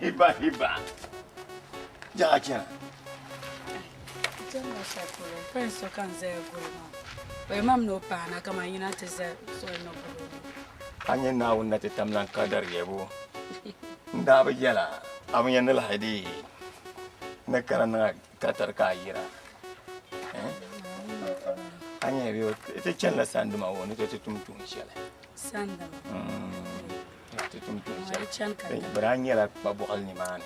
Hiba hiba. Jaɣa chana. Jɛmma shɛli polo pɛn so ka n zaya guli maa o yɛn mam ni o paana ka man yina ti za soli ni guli a nyɛ naawuni na ti tam lan ka dari yɛbu n daa bi yɛla a bi yɛn ni lahi di ni kana niŋa ka tari ka a yira a nyɛla bɛ ti chanila sandima wo ni ti tum tuun shɛli ti tum tuun shɛli bari a nyɛla kpa bɔɣili nimaani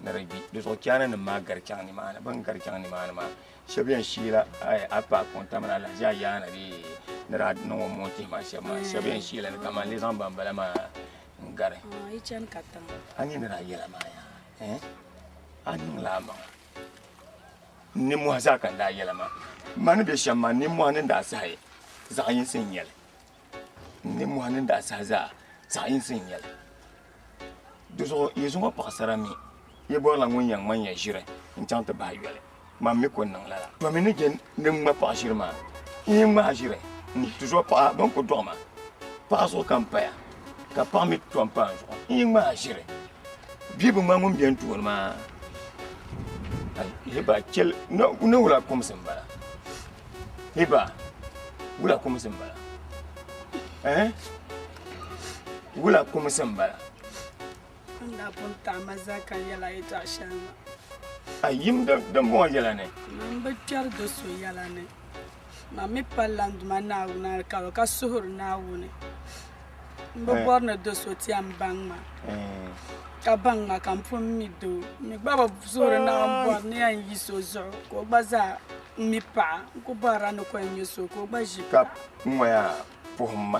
ni di gbi di zuɣu chaana nim maa gari chaŋ nimaani bin gari chaŋ nimaani maa shɛb yɛn shiila a pa kɔnta mini alahaji a yaana bee ni daa niŋ o moon tihi maa shɛb maa shɛb yɛn shiila ni kaman li zaŋ bambala maa n gari a nyɛ ni daa yɛla maa yaa a niŋla a maŋa nimmohi zaa ka n daa yɛla maa ma ni bɛ shɛm maa nimmohi ni daa sahi zaɣ yinsi n nyɛli nimmohi ni daa sahi zaa zaɣ yinsi n nyɛli di zuɣu yi zuŋɔ paɣasara mi yi bɔrila ŋun yɛn ŋmanya ʒiri n chaŋ ti bahi yoli Mam mi ko niŋ lala. Domi ni je ni ŋma paɣa ʒiri maa, n yi ŋma a ʒiri n tizuɣu paɣa bɛn ku dɔɣi ma paɣa zuɣu ka m paya, ka paɣa mi tɔm pa n zuɣu n yi ŋma a ʒiri. Bia bi ŋma ŋun be n tooni maa, hiba chel ni wula kumsi m bala, hiba wula kumsi m bala eh wula kumsi m bala. N daa pun taɣi ma zaka yɛla yɛtɔɣ shɛli ŋɔ. A yim dimbɔŋɔ yɛla ni. Mani bi kpɛri do so yɛla ni. Mani mi pa Landuma Naawuni alikauli ka suhuri Naawuni. M bi bɔri ni do so ti a m-baŋ ma, ka baŋ ma ka m pun mi doo. M mi gba bi suhuri Naawuni bɔri ni yɛn yi so zuɣu ka o gba zaa mi paɣa. N ku bɔrila ni ko n nya so ka o gba ʒi paɣa. Ka ŋɔya puhi m ma.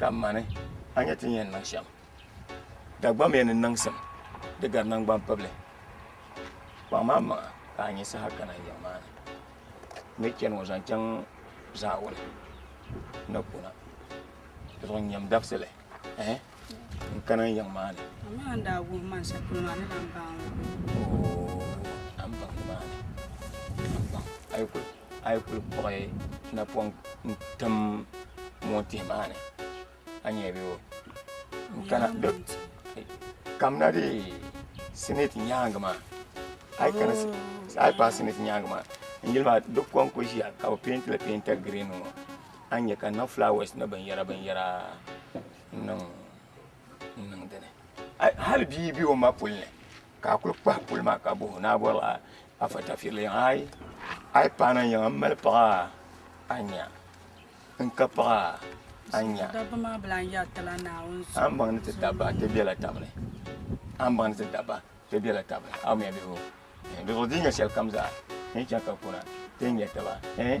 Ka mani, a nya ti ni yɛn niŋ shɛm. Dagbamia ni niŋsim di gari naŋgban pibili. Kpaŋm a maŋa ka a nyin saha kana n yiŋ maa ni. N ni chani ŋɔ zaŋ chaŋ zaawuni ni kuna. Zuɣu nyam dabisili ɛɛh n kana n yiŋ maa ni. Amaa a ni daa guhi man shɛli polo maa, a ni lan baŋ n ŋɔ. Oo, a ni baŋ nimaani, a ni baŋ. A yi kuli. A yi kuli kpuɣi napɔŋ n-tim moontihi maa ni, a ni yɛn be o. N-kana kamina dee siniti nyaaŋa maa, a yi kana, a yi paai siniti nyaaŋa maa, n yuli maa di kom kuli ʒiya ka bɛ peenti li peenta girin ŋɔ, a ni nya ka niŋ fulaawaasi ni binyɛra binyɛra n-niŋ dini. Hali bia be o ma puli ni. ka a kuli kpahi puli maa ka bohi o ni a bɔri a afa tafirili yaŋa ayi a yi pahi naai yaŋa m-mali paɣa a nya n ka paɣa a nya a ni baŋ ni ti dabba ti bela tab ni a ni baŋ ni ti dabba ti bela tab ni a wumya bihi o bihi o di nya shɛlikam zaa n yi chaŋ ka kuna ti ni nya taba ɛɛh eei.